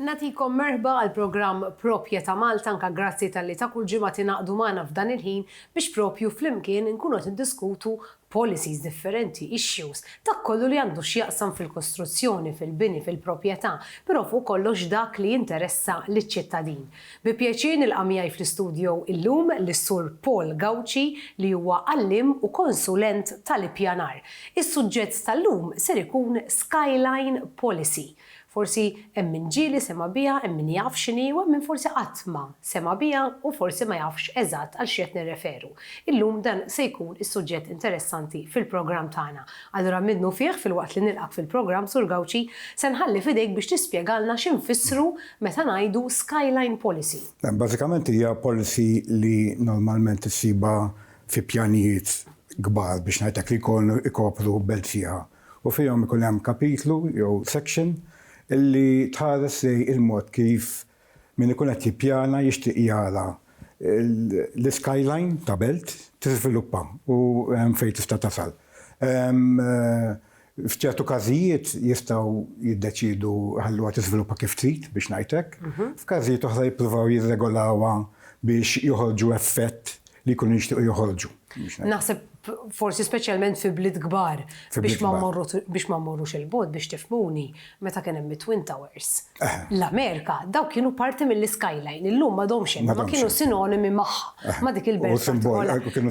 Nagħtikom merħba għall-programm Proprje ta' Malta anke grazzi talli ta' kull ġimgħa tingħaqdu magħna f'dan il-ħin biex propju flimkien inkunu qed niddiskutu policies differenti, issues, dak kollu li għandu x'jaqsam fil-kostruzzjoni, fil-bini, fil-proprjetà, però fuq kollox dak li jinteressa liċ-ċittadin. Bi pjaċir nilqa' miegħi fl-istudjo illum lis-Sur Paul Gauci li huwa għalliem u konsulent tal-ippjanar. Is-suġġett tal-lum ser ikun Skyline Policy. Forsi hemm min ġieli sema' biha, hemm min jaf x'inhi u hemm min forsi qatt ma sema' biha u forsi ma jafx eżatt għal x'qed nirreferu. Illum dan se jkun is-suġġett interessanti fil-programm tagħna. Allura minnufih filwaqt li nilqgħek fil-programm Sur Gauci, se nħalli f'idejk biex tispjegalna x'infissru meta ngħidu skyline policy? Bażikament hija policy li normalment issibha fi pjanijiet kbar biex ngħidlek li jkunu jkopru belt sħiħa u fihom ikun hemm kapitlu jew section li tħares lejn il-mod kif min ikun qed jippjana jixtieq jara l-skyline ta' belt tiżviluppa u hemm fejn tista' tasal. F'ċertu każijiet jistgħu jiddeċiedu jħalluha tiżviluppa kif trid, biex ngħid hekk. F'każijiet oħra jippruvaw jirregolawha biex joħorġu effett li jkunu jixtiequ joħorġu. Naħseb forsi speċjalment fi bliet kbar biex ma mmorrux il-bogħod biex tifhmuni meta kien hemm it-Twin Towers. l-Amerika, dawk kienu parti mill-iskyline, illum m'għadhomx hemm, imma kienu sinonimi magħha, ma' dik il-belt.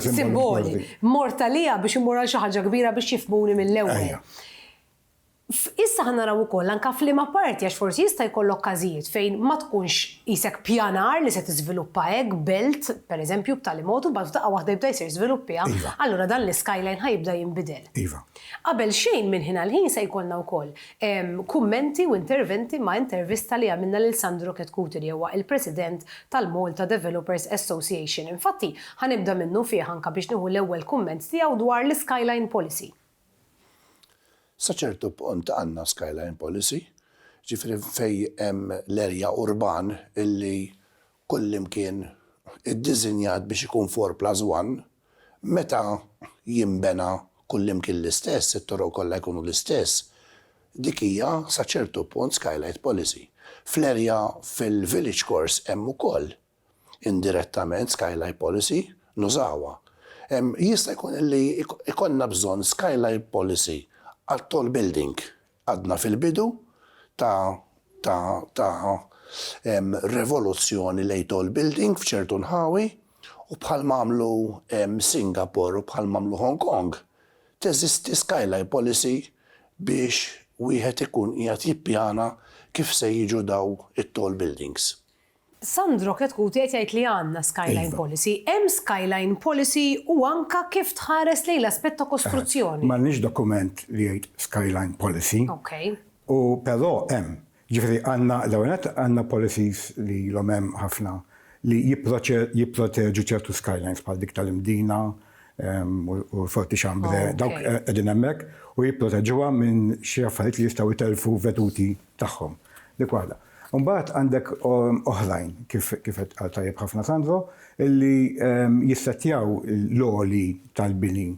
Simboli. Mort għaliha biex immur għal xi ħaġa kbira biex jifhmuni mill-ewwel. Issa ħa naraw ukoll anke f'liema parti għax forsi jista' jkollok każijiet fejn ma tkunx qisek ppjanar li se tiżviluppa hekk belt, pereżempju, b'tali mod u mbagħad f'daqqa waħda jibda jsir żvilupp tiegħha, allura dan l-iskyline ħa jibda jinbidel. Qabel xejn minn ħin għal ħin se jkollna wkoll Kummenti u interventi ma' intervista li għamilna lil Sandro Chetcuti li huwa il-President tal-Malta Developers Association. Infatti, ħa nibda minnu fih anke biex nieħu l-ewwel kumment tiegħu dwar l-Skyline Policy. Sa ċertu punt għandna Skyline Policy, jiġifieri fejn hemm l-erja urban li kullimkien iddiżinjat biex ikun four plus one, Meta jinbena kullimkien l-istess, it-toroq kollha jkunu l-istess, dik hija sa ċertu punt skylight policy. Fl-erja fil-Village Course hemm ukoll indirettament skylight policy, nużawha. Jista' jkun li jkollna bżonn skylight policy għat-tall building, Għadna fil-bidu ta' ta' ta' revoluzzjoni lejn tall building f'ċertu nħawi u bħal m'għamlu Singapore u bħal m'għamlu Hong Kong, teżisti skyline policy biex wieħed ikun qiegħed jippjana kif se jiġu dawn it-tall buildings. Sandro Chetcuti qed jgħid li għandna skyline policy. Iva. Hemm skyline policy u anka kif tħares lejn l-aspett ta' kostruzzjoni. M'għandniex dokument li jgħid skyline policy. Ok. U però hemm. Jiġifieri għandna l-ewwel nett għandna policies li ilhom hemm ħafna li jipproteġu ċertu skylines bħal dik tal-Imdina u l-Forti Chambre. Dawk qegħdin hemmhekk u jipproteġuha minn xi affarijiet li jistgħu jtellfu veduti tagħhom dik waħda. Imbagħad għandek oħrajn kif qed qal tajjeb ħafna Sandro illi jissettjaw l-għoli tal-bini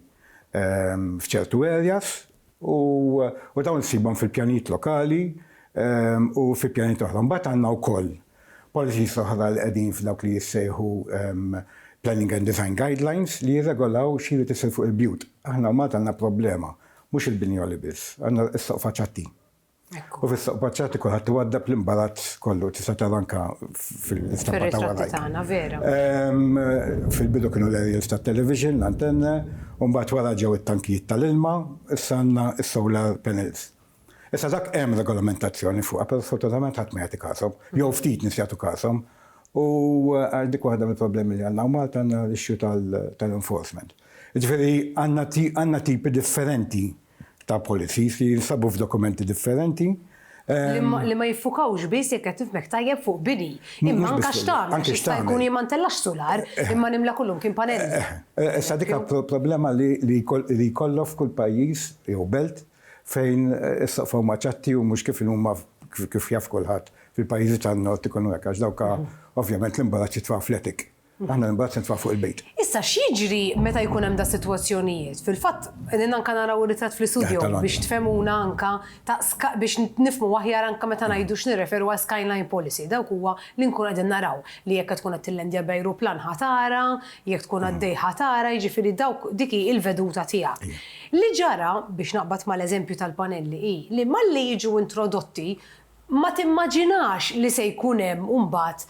f'ċertu areas u dawn issibhom fil-pjanijiet lokali u fi pjanijiet oħra. Imbagħad għandna wkoll policies oħra li qegħdin f'dawk li jissejħu planning and design guidelines li jirregolaw x'irid isir fuq il-bjut. Aħna Malta għandna problema, mhux il-bini għoli biss, għandna s-soqfa ċatti. U fis-soq paċċati kulħadd iwaddab l-imbarazz kollu tista' tara anke fil-istampa ta' wara. tagħna vera. Fil-bidu kienu l-aerials tat-television, l-antenna, u mbagħad wara ġew it-tankijiet tal-ilma, issa għandna s-solar panels. Issa dak hemm regolamentazzjoni fuqha, però sfortunatament ħadd ma jagħti kashom, jew ftit nies jagħtu kashom, u għax dik waħda mill-problemi li għandna u Malta għandna l-issue tal-enforcement. Jiġifieri għandna tipi differenti ta' policies li jinsabu f'dokumenti differenti. Li ma jiffukawx biss, jekk qed nifhmek tajjeb, fuq bini, imma anke x'tagħmel, għax jista' jkun jien ma ntellax sular, imma nimla kollu mkien panelli. Issa dik hija problema li jkollok f'kull pajjiż jew belt fejn is-saqfa huma ċatti u mhux kif inhu huma kif jaf kulħadd fil-pajjiżi tan-Nord ikunu hekk, għax dawk ovvjament l-imbarazz jitfa' fl-attic. Aħna imbagħad nitfgħu fuq il-bejt. Issa x'jiġri meta jkun hemm dal-sitwazzjonijiet? Fil-fatt qegħdin anke naraw ir-ritratt fl-istudio biex tfehmuna anke ta' biex nifhmu aħjar anke meta ngħidu x'nirreferu għal skyline policy. Dawk huwa li nkunu qegħdin naraw li jekk qed tkun qed tillandja b'ajruplan ħa tara, jekk tkun għaddej ħa tara, jiġifieri dawk dik hi l-veduta tiegħek. Li ġara, biex naqbad mal-eżempju tal-panelli, hi li malli jiġu introdotti ma timmaġinax li se jkun hemm imbagħad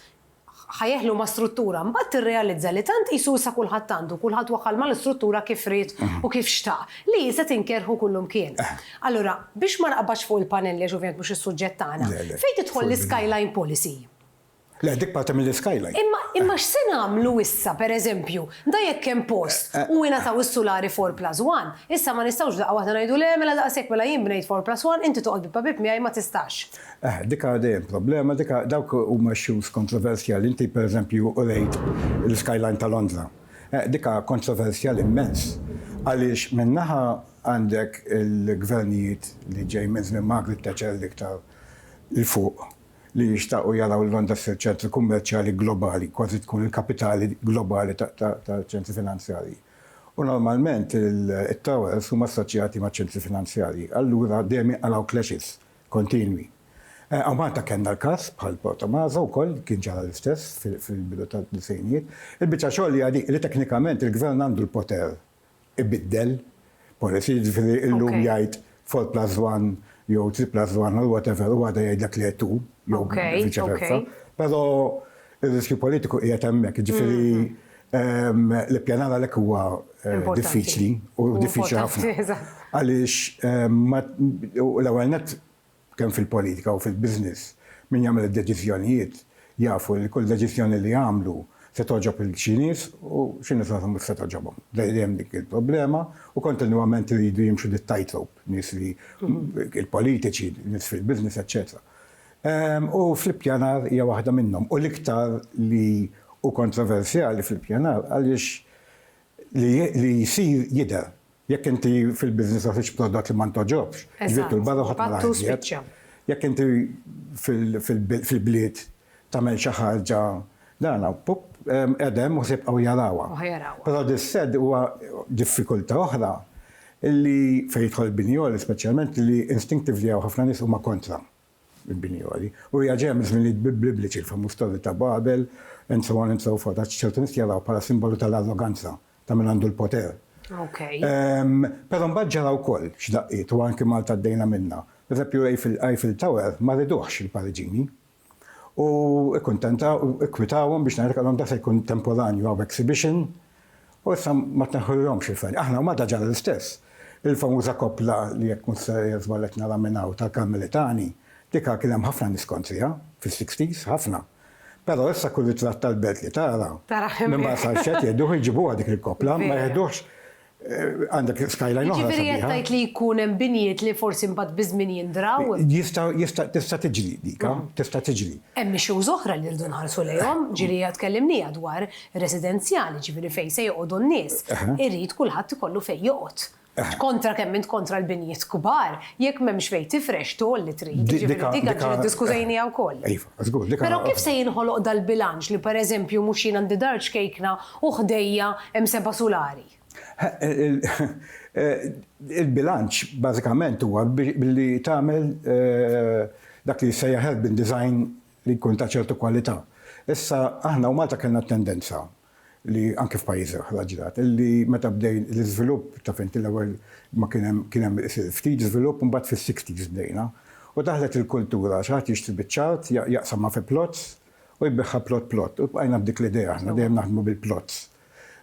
ħa jeħlu ma' struttura, mbagħad tirrealizza li tant qisu issa kulħadd għandu, kulħadd waħħal mal-istruttura kif ried u kif xtaq, li hi se tinkerħu kullumkien. Allura, biex ma naqbadx fuq il-panelli għax ovvjament mhux is-suġġett tagħna, fejn tidħol l-iskyline policy? Le, dik parti mill-iskyline. Imma imma x'se nagħmlu issa, pereżempju, da jekk hemm post u ingħataw is-sulari four plus one, issa ma nistgħux f'daqqa waħda ngħidu le mela daqshekk mela jien bnejt four plus one, inti toqgħod bieb ma' bieb miegħi ma tistax. Eħe, dik għadha dejjem problema, dik dawk huma issues kontroversjali. Inti pereżempju urejt l-skyline ta' Londra. Eħe, dik kontroversjali immens. Għaliex minn naħa għandek il-gvernijiet li ġej minn żmien Margaret Thatcher l-iktar 'l fuq li jixtaqu jaraw Londra ssir ċentru kummerċjali globali, kważi tkun il-kapitali globali taċ-ċentri finanzjarji. U normalment it-towers huma assoċjati maċ-ċentri finanzjarji. Allura dejjem jinqalgħu clashes kontinwi. Hawn Malta kellna l-każ bħal Portomaso wkoll kien ġara l-istess fil-bidu tad-disgħinijiet. Il-biċċa xogħol hija dik li teknikament il-Gvern għandu l-poter ibiddel policy, jiġifieri illum jgħid four plus one jew three plus one or whatever u għada jgħidlek le two jew viċi versa. Però Ir-riskju politiku qiegħed hemmhekk, jiġifieri l-ippjanar għalhekk huwa eh, diffiċli u diffiċli ħafna. Għaliex l-ewwel net kemm fil-politika u fil-business min jagħmel id-deċiżjonijiet jafu li kull deċiżjoni li jagħmlu se toġob il-ċinis u ċinis għazam mux se toġobom. Dejjem dik il-problema u kontinuament li jridu jimxu dit tightrope nis li il-politiċi, nis fil-biznis, eccetera. U fl-ippjanar hija waħda minnhom, u l-iktar li hu kontroversjali fl-ippjanar għaliex li li jsir jidher. Jekk inti fil-business ta' tħix prodott li ma ntogħġobx, ġbidtu 'l barra u ħadd ma rah iżjed. Jekk inti fil-bliet tagħmel xi ħaġa Dan hawn pup qedem u se jibqgħu jarawha. Però dis-sad huwa diffikultà oħra li fejn jidħol il-binjoli speċjalment li instinctively hawn ħafna nies huma kontra l-binjoli. U hija ġejja miż-żminijiet Bibliċi, il-famuż Torri ta' Babel and so on and so forth għax ċertu nies jarawh bħala simbolu tal-arroganza ta' min għandu l-poter. Però mbagħad ġara wkoll x'daqqiet u anki Malta għaddejna minnha. Pereżempju Eiffel Tower ma riduhx il-Pariġini u kkuntenta u kkwitawhom biex ngħidlek għalhom dak se jkun temporanju hawn exhibition u issa ma tneħħulhomx il-fajl. Aħna Malta ġara l-istess. Il-famuża koppla li jekk mhux se żball qed nara minn hawn tal-Karmelitani, dik kien hemm ħafna nies kontriha fis-sixties, ħafna. Però issa kull ritratt tal-belt li tara minn Marsaxxa jieħduh u jġibuha dik il-koppla, ma jeħduhx Għandek skyline oħra. Jiġifieri qed tgħid li jkun hemm binjiet li forsi mbagħad biż-żmien jindraw? Jista' jista' tista' tiġri dik, tista' tiġri. Hemm issues oħra li rridu nħarsu lejhom, ġieli hija tkellimniha dwar residenzjali, jiġifieri fejn se joqogħdu n-nies. Irid kulħadd ikollu fejn joqgħod. Kontra kemm int kontra l-binjiet kbar, jekk m'hemmx fejn tifrex togħol li trid. Jiġifieri dik għad iddiskutejniha wkoll. Iva, żgur, dik. Però kif se jinħoloq dal-bilanċ li pereżempju mhux jien għandi dar ċkejkna U ħdejja hemm seba' sulari. Il-bilanċ bażikament huwa billi tagħmel dak li jissejjaħ urban design li jkun ta' ċertu kwalità. Issa aħna u Malta kellna t-tendenza li anke f'pajjiżi oħra ġrat illi meta bdejn l-iżvilupp, taf int l-ewwel ma kien hemm kien hemm ftit żvilupp imbagħad fis-sixties bdejna u daħlet il-kultura xi ħadd jixtri biċ-ċagħat jaqsamha fi plots U jbiegħha plot plot. U bqajna b'dik l-idea aħna, dejjem naħdmu bil-plots.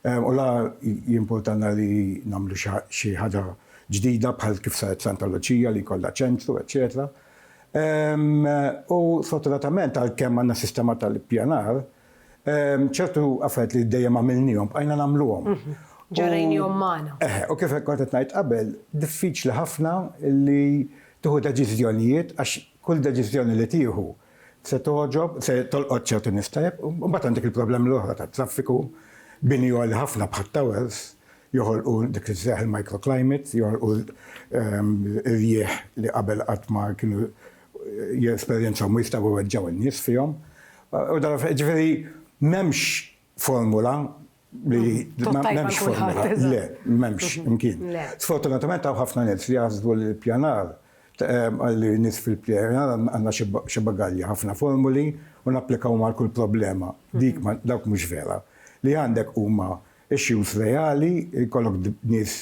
U la jimpurtalna li nagħmlu xi ħaġa ġdida bħal kif saret Santa Luċija li jkollha ċentru, eċċetera. U sfortunatament għalkemm għandna sistema tal-ippjanar, ċertu affarijiet li dejjem għamilniehom bqajna nagħmluhom. Mhm. Ġarrejniehom magħna. Eħe, u kif kont qed ngħid qabel, diffiċli ħafna li tieħu deċiżjonijiet għax kull deċiżjoni li tieħu Se togħġob, se tolqot ċertu nies tajjeb, u mbagħad għandek il-problemi l-oħra tat-traffiku, bini għoli ħafna bħat-towers, joħolqu dik li sejjaħ il-microclimate, joħolqu rjieħ li qabel qatt ma kienu jesperjenzaw ma jistgħu jweġġgħu n-nies fihom. U dan ġifieri m'hemmx formula li m'hemmx formula. Le, m'hemmx imkien. Sfortunatament hawn ħafna nies li jaħsbu li l-ippjanar li nies fil-ippjanar għandna xi bagalja, ħafna formuli u napplikawhom għal kull problema. Dik dawk mhux vera. Li għandek huma issues reali, jkollok nies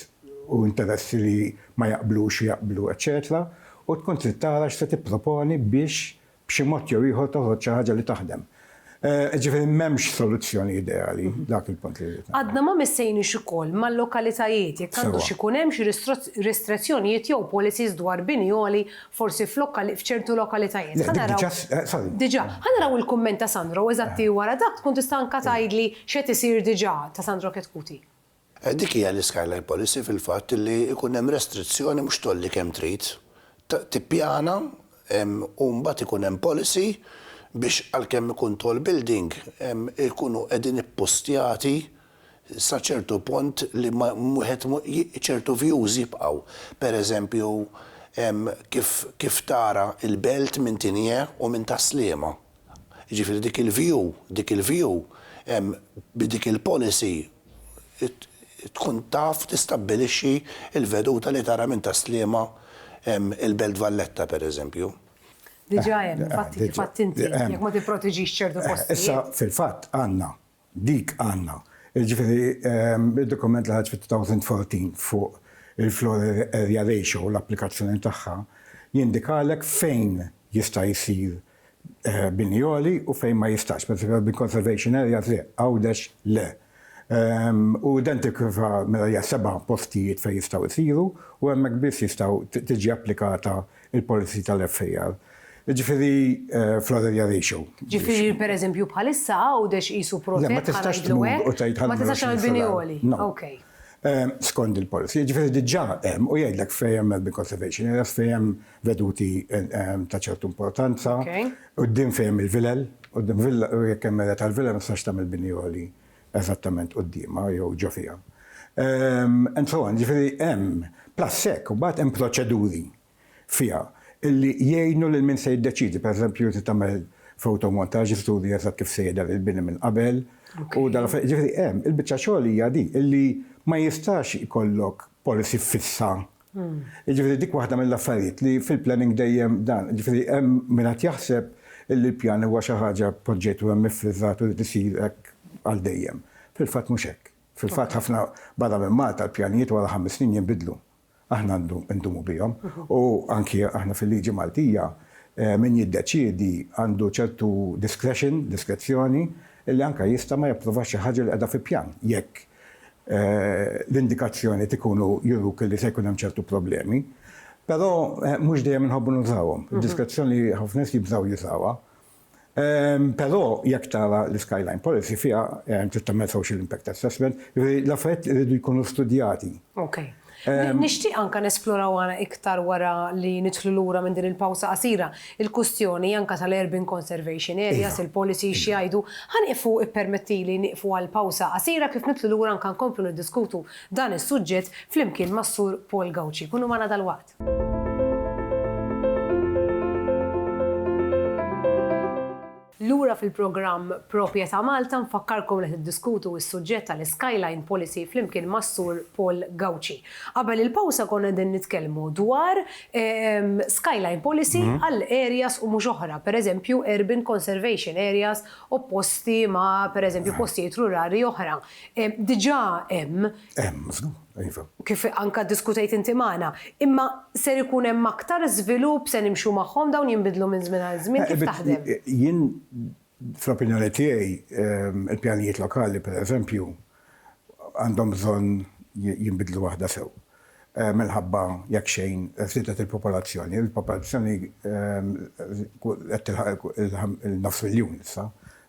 u interessi li ma jaqblux u jaqblu, eċċetera, u tkun trid tara x'se tipproponi biex b'xi mod jew ieħor toħroġ xi ħaġa li taħdem. Jiġifieri m'hemmx soluzzjoni ideali, dak il-punt li rrid ngħid. Għadna ma missejniex ukoll mal-lokalitajiet, jekk għandux ikun hemm xi restrizzjonijiet jew policies dwar bini għoli forsi f'ċertu lokalitajiet. Ħa naraw. Le, dik diġà, sorry. Diġà. Ħa naraw il-kumment ta' Sandro, eżatti wara dak tkun tista' anke tgħidli x'qed isir diġà ta' Sandro Chetcuti. Dik hija l-iskyline policy fil-fatt li jkun hemm restrizzjoni mhux tgħolli kemm trid, tippjana u mbagħad ikun hemm policy biex għalkemm ikun tall building ikunu qegħdin ippostjati sa ċertu punt li wieħed ċertu views jibqgħu. Pereżempju kif tara l-belt minn Tinie u minn Tas-Sliema. Jiġifieri dik il-view, dik il-view bi dik il-policy tkun taf tistabbilixxi l-veduta li tara minn Tas-Sliema il-Belt Valletta pereżempju. Diġà hemm, infatti kif għidt inti, jekk ma tipproteġix ċertu postijiet. Issa fil-fatt għandna Dik għandna. Jiġifieri d-dokument li ħareġ fit-2014 fuq il-floor area ratio u l-applikazzjoni tagħha jindikalek fejn jista' jsir bini għoli u fejn ma jistax. Pereżempju l-urban conservation areas le, Għawdex le. U identiku sa mela hija seba' postijiet fejn jistgħu jsiru u hemmhekk biss jistgħu tiġi applikata il-policy tal-FAR, jiġifieri flood area ratio. Jiġifieri per eżempju bħalissa Għawdex qisu protett ħa ngħidlu hekk. Le ma tistax tmur u tgħid ħa nagħmlu 20 fl-aħħar. Ma tistax tagħmel bini għoli. Okej. Skond il-policy. Jiġifieri diġà hemm u jgħidlek fejn hemm urban conservation areas, fejn hemm veduti ta' ċertu importanza, quddiem fejn hemm il-vilel, quddiem villa, jekk hemm area tal-villa ma tistax tagħmel bini għoli. eżattament quddiemha jew ġo fiha, and so on, jiġifieri hemm, plus hekk imbagħad hemm proċeduri fiha li jgħinu lil min se jiddeċiedi, pereżempju trid tagħmel fotomontaġġ li turi eżatt kif se jidher il-bini minn qabel u dan l-affarijiet, jiġifieri hemm, il-biċċa xogħol hija din, illi ma jistax ikollok policy fissa Jiġifieri dik waħda mill-affarijiet li fil-planning dejjem dan, jiġifieri hemm min qed jaħseb illi l-pjan huwa xi ħaġa poġġejtu hemm iffriżat u li tisir hekk għal dejjem. Fil-fatt mhux hekk. Fil-fatt ħafna barra minn Malta l-pjanijiet wara ħames snin jinbidlu. Aħna ndumu bihom u anki aħna fil-liġi Maltija min jiddeċiedi għandu ċertu discretion, diskrezzjoni, li anke jista' ma japprovax xi ħaġa li qiegħda fi pjan jekk l-indikazzjoniet ikunu juruk li se jkun hemm ċertu problemi. Però mhux dejjem inħobbu nużawhom. Id-diskrezzjoni ħafna nies jibżgħu jużawha. Però jekk tara l-Skyline Policy fiha trid tagħmel social impact assessment, jiġifieri l-affarijiet iridu jkunu studjati. Nixtieq anke nesploraw għana iktar wara li nidħlu lura minn din il-pawsa qasira, il-kustjoni anke tal-urban conservation areas, il-policies x'jgħidu. Ħa nieqfu ippermettili nieqfu għal pawsa qasira kif nidħlu lura anke nkomplu niddiskutu dan is-suġġett flimkien mas-Sur Paul Gauci. Kunu magħna dalwaqt. Lura fil-programm Proprjetà Malta nfakkarkom li tiddiskutu s-suġġett tal-Skyline Policy flimkien mas-Sur Paul Gauci. Qabel il-pawsa konna qegħdin nitkellmu dwar Skyline Policy għal areas u mhux oħra, pereżempju urban conservation areas opposti ma' pereżempju postijiet rurali oħra. Diġà hemm. Hemm. Iva. Kif anke ddiskutejt inti magħna. Imma ser ikun hemm aktar żvilupp, se nimxu magħhom, dawn jinbidlu minn żmien għal żmien, kif taħdem? Jien fl-opinjoni tiegħi l-pjanijiet lokali pereżempju għandhom bżonn jinbidlu waħda sew. Minħabba jekk xejn żiedet il-popolazzjoni, il-popolazzjoni qed tilħaq il-nofs miljun issa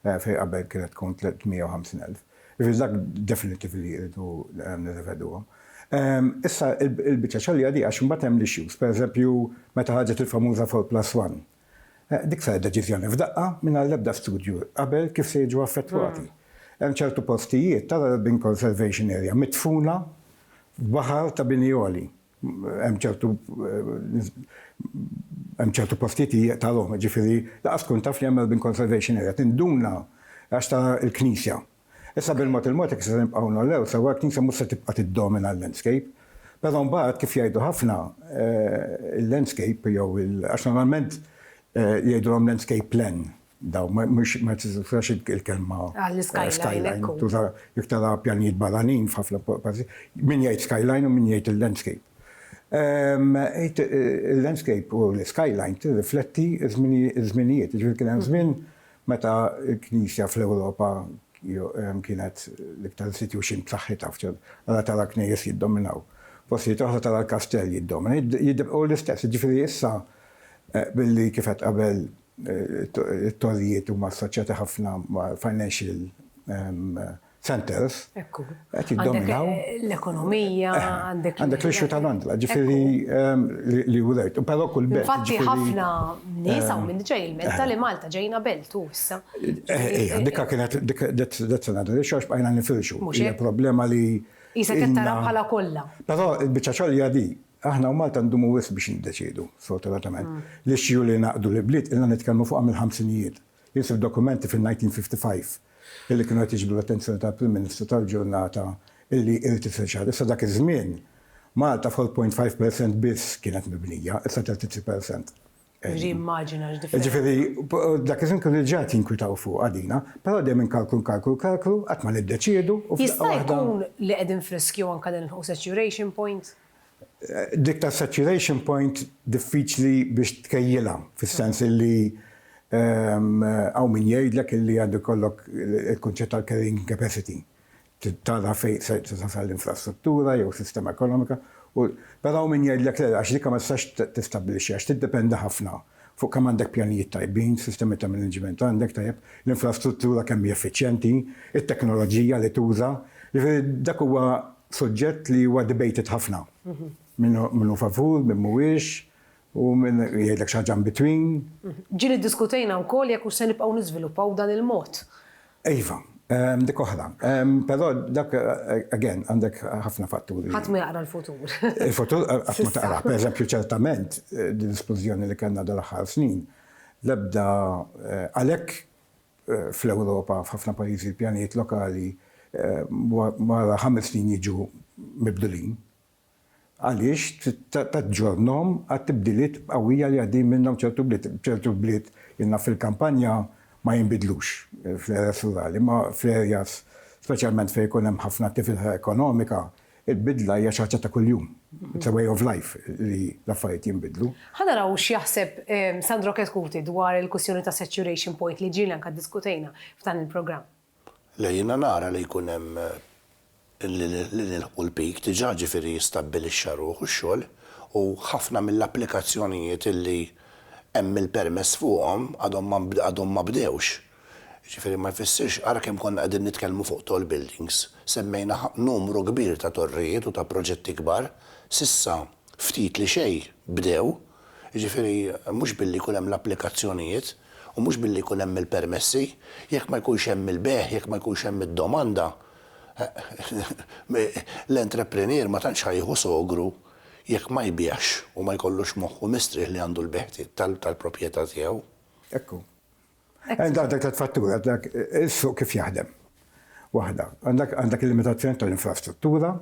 fejn qabel kienet tkun 350,000. Jiġifieri dak definittiv li irridu nirriveduhom. Issa il-biċċa xogħol hija di għax imbagħad hemm l-issues, pereżempju meta ħarġet il-famuża four plus one. Dik saret deċiżjoni f'daqqa mingħajr l-ebda studju qabel kif se jiġu affettwati. Hemm ċertu postijiet tal-urban conservation area midfuna f'baħar ta' bini għoli. hemm ċertu hemm ċertu postijiet li jaqtalhom, ġifieri laqas tkun taf li hemm Melbourne Conservation Area, tinduna għax ta' l-knisja. Issa bil-mod il-mod jekk se nibqgħu nollew sewwa l-knisja mhux se tibqa' tiddomina l-landscape. Però mbagħad kif jgħidu ħafna eh, il-landscape jew il għax normalment eh, jgħidulhom landscape plan, Dawn mhux ma tiżax il-kelma. Għall-skyline. Tuża jekk tara pjanijiet barranin f'ħafna pajjiżi. Min jgħid skyline u min jgħid il-landscape. Ehm, il-landscape u l-skyline tirrifletti ż-żminijiet. Ġifieri kien hemm żmien meta l-Knisja fl-Ewropa ehm, kienet l-iktar institution b'saħħitha f'ċert. Ara tara knejjes jiddominaw. Postijiet oħra tara l-kastell jiddomina. Jibqgħu l-istess. Ġifieri issa eh, billi kifet qabel it-torrijiet huma assoċjati ħafna ma' financial centers. Ekku. Qed jiddominaw. L-ekonomija, għandek. Għandek l-issue ta' Londra, ġifieri li wrejt. Però kull belt. Infatti ħafna nies hawn minn ġej il-menta li Malta ġejna belt u issa. Ejja, dik kienet that's another issue għax bqajna nifirxu. Mhux hekk. Hija problema li. Qisek qed tara bħala kollha. Però l-biċċa xogħol hija di. Aħna u Malta ndumu wisq biex niddeċiedu, sfortunatament. L-issue li ngħaqqdu l-ibliet ilna nitkellmu fuqha mill-ħamsinijiet. Jien sibt dokumenti fin-1955 illi kienu qed jiġbdu l-attenzjoni tal-Prim Ministru tal-ġurnata illi irid isir xi ħaġa. Issa dak iż-żmien Malta f'0.5 percent biss kienet mibnija, issa 33 percent. Rimmaġina x'differenza. Ġifieri dak iż-żmien kienu diġà qed jinkwitaw fuq għadina, però dejjem minn kalklu nkalklu kalklu qatt ma niddeċiedu u f'daqqa waħda. Jista' jkun li qegħdin friskju anke nilħqu saturation point? Dik ta' saturation point diffiċli biex tkejjilha fis-sens illi hawn min jgħidlek illi għandu jkollok il-kunċett tal-carrying capacity. Trid tara fejn se tasal l-infrastruttura jew sistema ekonomika u però hawn min jgħidlek le, għax dik ma tistax tistabbilixxiha għax tiddependi ħafna fuq kemm għandek pjanijiet tajbin, sistemi ta' maniġment għandek tajjeb, l-infrastruttura kemm hi effiċjenti, it-teknoloġija li tuża. Jiġifieri dak huwa suġġett li huwa debated ħafna. Min hu favur, min mhuwiex, U min jgħidlek xi ħaġa in between. Ġieli ddiskutejna wkoll jekk hux se nibqgħu niżviluppaw b'dan il-mod. Iva, hemm dik oħra. Però dak, again, għandek ħafna fatturi. Ħadd ma jaqra l-futur. Il-futur qatt ma taqrah. Pereżempju, ċertament, din l-isplużjoni li kellna dal-aħħar snin, l-ebda, għalhekk fl-Ewropa, f'ħafna pajjiżi l-pjanijiet lokali wara ħames snin jiġu mibdulin. Għaliex taġġornhom għat-tibdiliet qawwija li għaddejjin minnhom ċertu bliet? Ċertu bliet, jien naf fil-kampanja ma jinbidlux fl-areas rurali, imma fl-areas speċjalment fejn ikun hemm ħafna attività ekonomika, il-bidla hija xi ħaġa ta' kuljum. It's a way of life li l-affarijiet jinbidlu. Ħa naraw x'jaħseb Sandro Chetcuti dwar il-kwistjoni tas-saturation point li ġieli anke ddiskutejna f'dan il-programm. Le, jiena nara li jkun hemm li nilħqu l-peak diġà, ġifieri jistabbilixxa ruħu x-xogħol u ħafna mill-applikazzjonijiet li hemm il-permess fuqhom għadhom ma bdewx. Jiġifieri ma jfissirx, ara kemm konna qegħdin nitkellmu fuq tall buildings, semmejna numru kbir ta' torrijiet u ta' proġetti kbar, s'issa ftit li xejn bdew jiġifieri mhux billi jkun hemm l-applikazzjonijiet u mhux billi jkun hemm il-permessi, jekk ma jkunx hemm il-bejgħ, jekk ma jkunx hemm id-domanda, l-entrepreneur ma tantx ħa jieħu sogru jekk ma jbigħx u ma jkollux moħħu mistrieħ li għandu l-bejgħ tal-proprjetà tiegħu. Hekk hu. Għandek dak tliet fatturi, għandek is-suq kif jaħdem. Waħda, għandek il-limitazzjoni tal-infrastruttura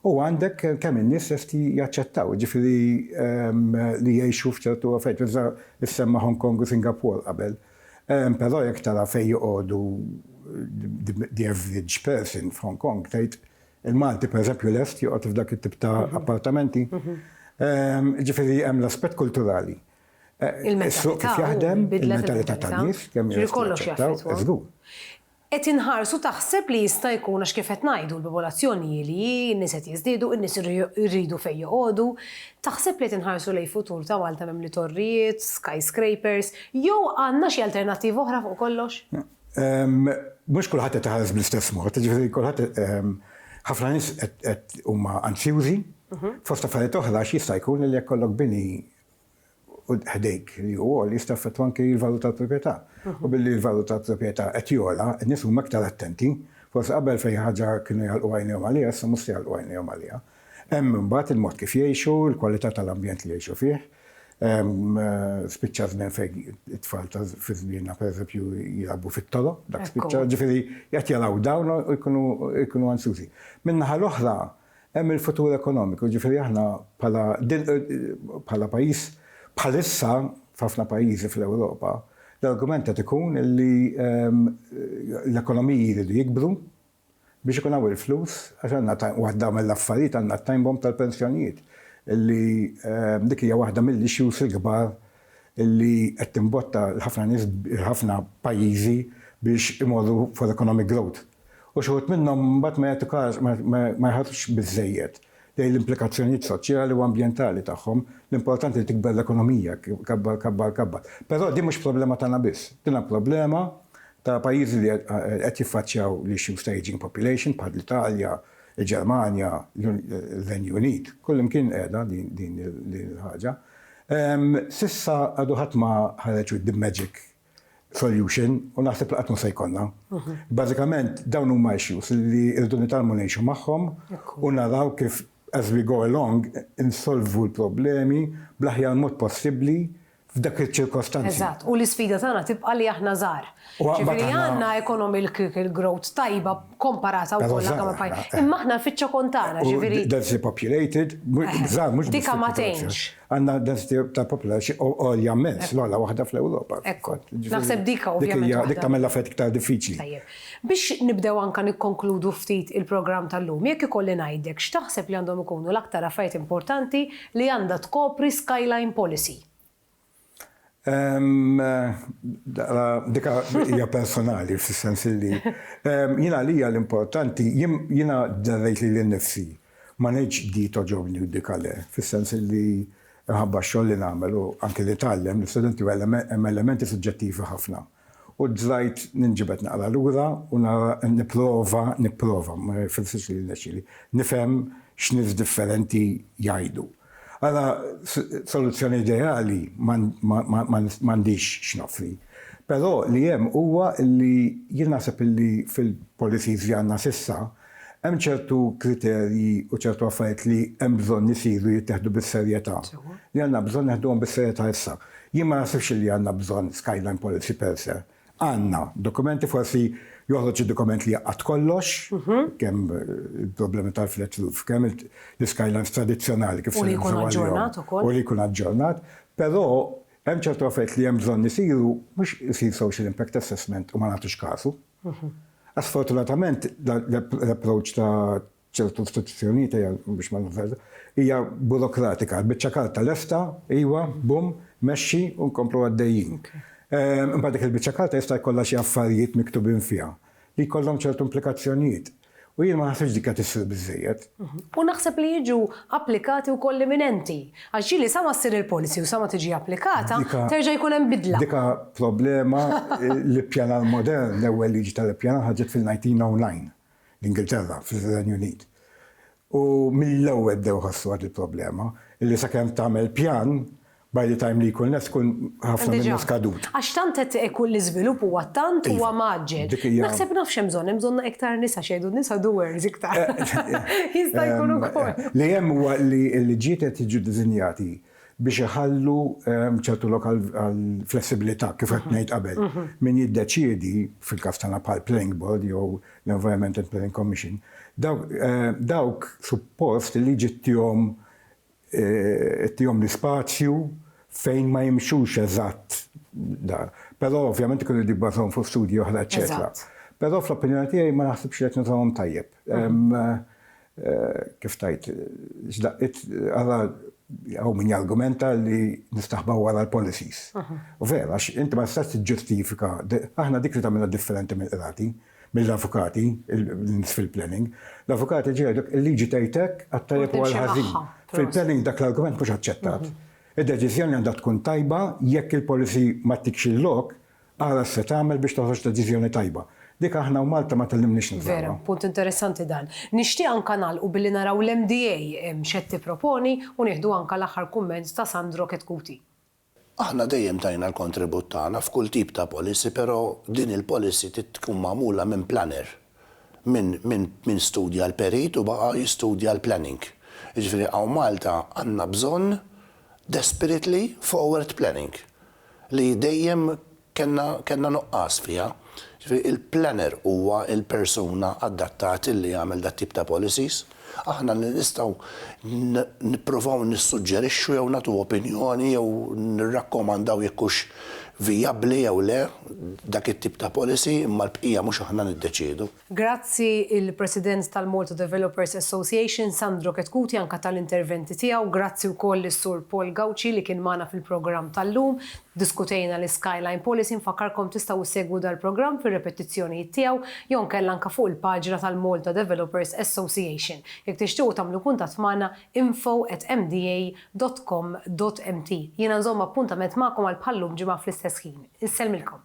u għandek kemm in-nies lesti jaċċettaw, ġifieri ehm, li jgħixu f'ċertu affett, issemma Hong Kong u Singapore qabel. Ehm, però jekk tara fejn joqogħdu the average person f'Hong Kong, tgħid il-Malti pereżempju lest joqgħod f'dak it-tip ta' mhm. appartamenti. Mhm. Ehm, ġifieri hemm l-aspett kulturali. Is-suq kif jaħdem, il-mentalità tan-nies, kemm hija lesta taċċetta, żgur. Qed inħarsu taħseb li jista' jkun għax kif qed ngħidu l-popolazzjoni hi li hi, in-nies qed jiżdiedu, in-nies iridu fejn joqogħdu, taħseb li qed inħarsu lejn futur ta' Malta mimli torrijiet, skyscrapers, jew għandna xi alternattiva oħra fuq kollox? Mhux kulħadd qed iħares bl-istess mod, jiġifieri kulħadd ħafna nies qed huma anzjużi, fost affarijiet oħra għax jista' jkun li jekk ikollok bini ħdejk li hu għoli jista' jaffettwa anki l-valur tal-proprjetà. U billi l-valur tal-proprjetà qed jogħla, in-nies huma iktar attenti. Forsi qabel fejn xi ħaġa kienu jagħlqu għajnejhom għaliha, issa mhux se jagħlqu għajnejhom għaliha. Hemm imbagħad il-mod kif jgħixu, il-kwalità tal-ambjent li jgħixu fih. Spiċċa żmien fejn it-tfal ta' fi żmienna pereżempju jilagħbu fit-toroq, dak spiċċa, ġifieri qed jaraw dawn u jkunu ansjużi. Min-naħa l-oħra, Hemm il-futur ekonomiku, jiġifieri aħna bħala din bħala pajjiż bħalissa f'ħafna pajjiżi fl-Ewropa l-argument qed ikun li l-ekonomiji jridu jikbru biex ikun hawn il-flus għax għandna waħda mill-affarijiet għandna t-time bomb tal-pensjonijiet li dik hija waħda mill-issues il-kbar li qed timbotta l-ħafna nies il-ħafna pajjiżi biex imorru for economic growth. u xi wħud minnhom mbagħad ma jagħtu każ, ma jħarsux biżżejjed lejn l-implikazzjonijiet soċjali u ambjentali tagħhom, l-importanti li tikber l-ekonomija, kabbar, kabbar, kabbar. Però din mhux problema tagħna biss, din hija problema ta' pajjiżi li qed jiffaċċjaw l-issues ta' ageing population bħall-Italja, il-Ġermanja, ir-Renju Unit, kullimkien qiegħda din il-ħaġa. S'issa għadu ħadd ma ħareġ with the magic solution u naħseb li qatt mhu se jkollna. Bażikament dawn huma issues li rridu nitgħallmu ngħixu magħhom u naraw kif as we go along insolvu l-problemi bl-aħjar mod possibbli f'dak iċ-ċirkostanzi. Eżatt, u l-isfida tagħna tibqa' li aħna żgħar. Ġifieri għandna economic growth tajba komparata wkoll anke ma' pajjiż. Imma aħna l-fiċċa kont tagħna, ġifieri. Densely populated, żgħar mhux. Dika ma tgħinx. Għandna density ta' population għolja mmens, l-ogħla waħda fl-Ewropa. Ekku. Naħseb dik ovvjament. Dik hija, dik tagħmel l-affarijiet iktar diffiċli. Tajjeb. Biex nibdew anke nikkonkludu ftit il-programm tal-lum, jekk ikolli ngħidlek, x'taħseb li għandhom ikunu l-aktar affarijiet importanti li għandha tkopri Skyline Policy? Dik hija personali, fis-sens li jiena għalija l-importanti, jiena dderrejt lili nnifsi Ma ngħidx di togħġobni u dik le, fis-sens illi minħabba x-xogħol li nagħmel u anki li tgħallem l-istudenti hemm elementi suġġettivi ħafna. U dlajt ninġibed naqra lura u nara nipprova, nipprova, ma jfissirx li jirnexxieli, nifhem x'nies differenti jgħidu. Ara, soluzzjoni ideali m'għandix x'noffri. Però li hemm huwa li jien naħseb illi fil-policies li għandna s'issa, Hemm ċertu kriterji u ċertu affarijiet li hemm bżonn isiru jittieħdu bis-serjetà, li għandna bżonn neħduhom bis-serjetà issa. Jien ma naħsibx li għandna bżonn skyline policy per se. Għandna dokumenti, forsi joħroġ xi dokument li jgħaqqad kollox, kemm il-problemi tal-flat roof, kemm l-iskylines tradizzjonali kif se nibżgħu għalihom. U li jkun aġġornat ukoll. U li jkun aġġornat. Però hemm ċertu affarijiet li hemm bżonn isiru, mhux isir social impact assessment u ma nagħtux kasu. Sfortunatament l-approach ta' ċertu istituzzjonijiet, ejja biex ma nifżaġġer, hija burokratika, il-biċċa karta lesta, iva, bum, mexxi u nkomplu għaddejjin. Imbagħad dik il-biċċa karta jista' jkollha xi affarijiet miktubin fiha li jkollhom ċertu implikazzjonijiet. U jien ma naħsibx dik qed issir biżżejjed. U naħseb li jiġu applikati wkoll l-imminenti. Għax ġieli sa ma ssir il-policy u sa ma tiġi applikata, terġa' jkun hemm bidla. Dik problema li ppjanar modern, l-ewwel liġi tal-ippjanar ħarġet fil-1909 l-Ingilterra, fir-Renju Unit. U mill-ewwel bdew iħossu għad il-problema, illi sakemm tagħmel pjan, by the time li jkun lest ikun ħafna minnu skadut. Għax tant qed ikun l-iżvilupp huwa tant huwa mgħaġġel. Naħseb naf x'hemm bżonn, hemm bżonn iktar nisa x'jgħidu n-nisa doers iktar. Jista' jkun ukoll. Li hemm huwa li l-liġijiet qed jiġu diżinjati biex iħallu ċertu lok għall-flessibilità, kif qed ngħid qabel. Min jiddeċiedi, fil-każ tagħna bħal Planning Board jew l-Environment and Planning Commission, dawk suppost il-liġi ttihom ttihom l-ispazju fejn ma jimxux eżatt dan. Però ovvjament ikun irid jibbażahom fuq studji oħra eċċetera. Però fl-opinjoni tiegħi ma naħsibx li qed nużahom tajjeb. Kif tgħid, x'daqqiet, ara hawn min jargumenta li nistaħbaw wara l-policies. U vera, għax inti ma tistax tiġġustifika, aħna dik li tagħmilna differenti mill-qrati, mill-avukati, in-nies fil-planning, l-avukati jiġu jgħidlek il-liġi tgħid hekk għat-tajjeb u għall-ħażin. Fil-planning dak l-argument mhux aċċettat. Id-deċiżjoni għandha tkun tajba jekk il-policy ma ttikx il-lok, Ara x'se tagħmel biex toħroġ deċiżjoni tajba. Dik aħna u Malta ma tgħallimniex nużawha. Vera, punt interessanti dan. Nixtieq anke nagħlqu billi naraw l-MDA x'qed tipproponi u nieħdu anke l-aħħar kumment ta' Sandro Chetcuti. Aħna dejjem tajna l-kontribut tagħna f'kull tip ta' policy pero' din il-policy trid tkun magħmula minn planner. Min studja l-perit u baqa' jistudja l-planning. Jiġifieri hawn Malta għandna bżonn desperately forward planning li dejjem kellna nuqqas fiha. Jiġifieri l-planner huwa l-persuna addattat li jagħmel dat-tip ta' policies. Aħna nistgħu nipprovaw nissuġġerixxu jew nagħtu opinjoni jew nirrakkomandaw jekk hux vijabbli jew le dak it-tip ta' policy imma l-bqija mhux aħna niddeċiedu. Grazzi il-President tal-Malta Developers Association, Sandro Chetcuti anka tal-interventi tiegħu. Grazzi wkoll lis-Sur Paul Gauci li kien magħna fil-programm tal-lum. Ddiskutejna l-Skyline Policy nfakkarkom tistgħu issegwu dal-programm fir-repetizzjonijiet tiegħu jew nkella anke fuq il-paġna tal-Malta Developers Association. Jekk tixtiequ tagħmlu kuntatt magħna info at mda dot com dot mt. Jiena nżomm appuntament magħkom għal bħal-lum ġimgħa fl-istess ħin. Insellmilkom.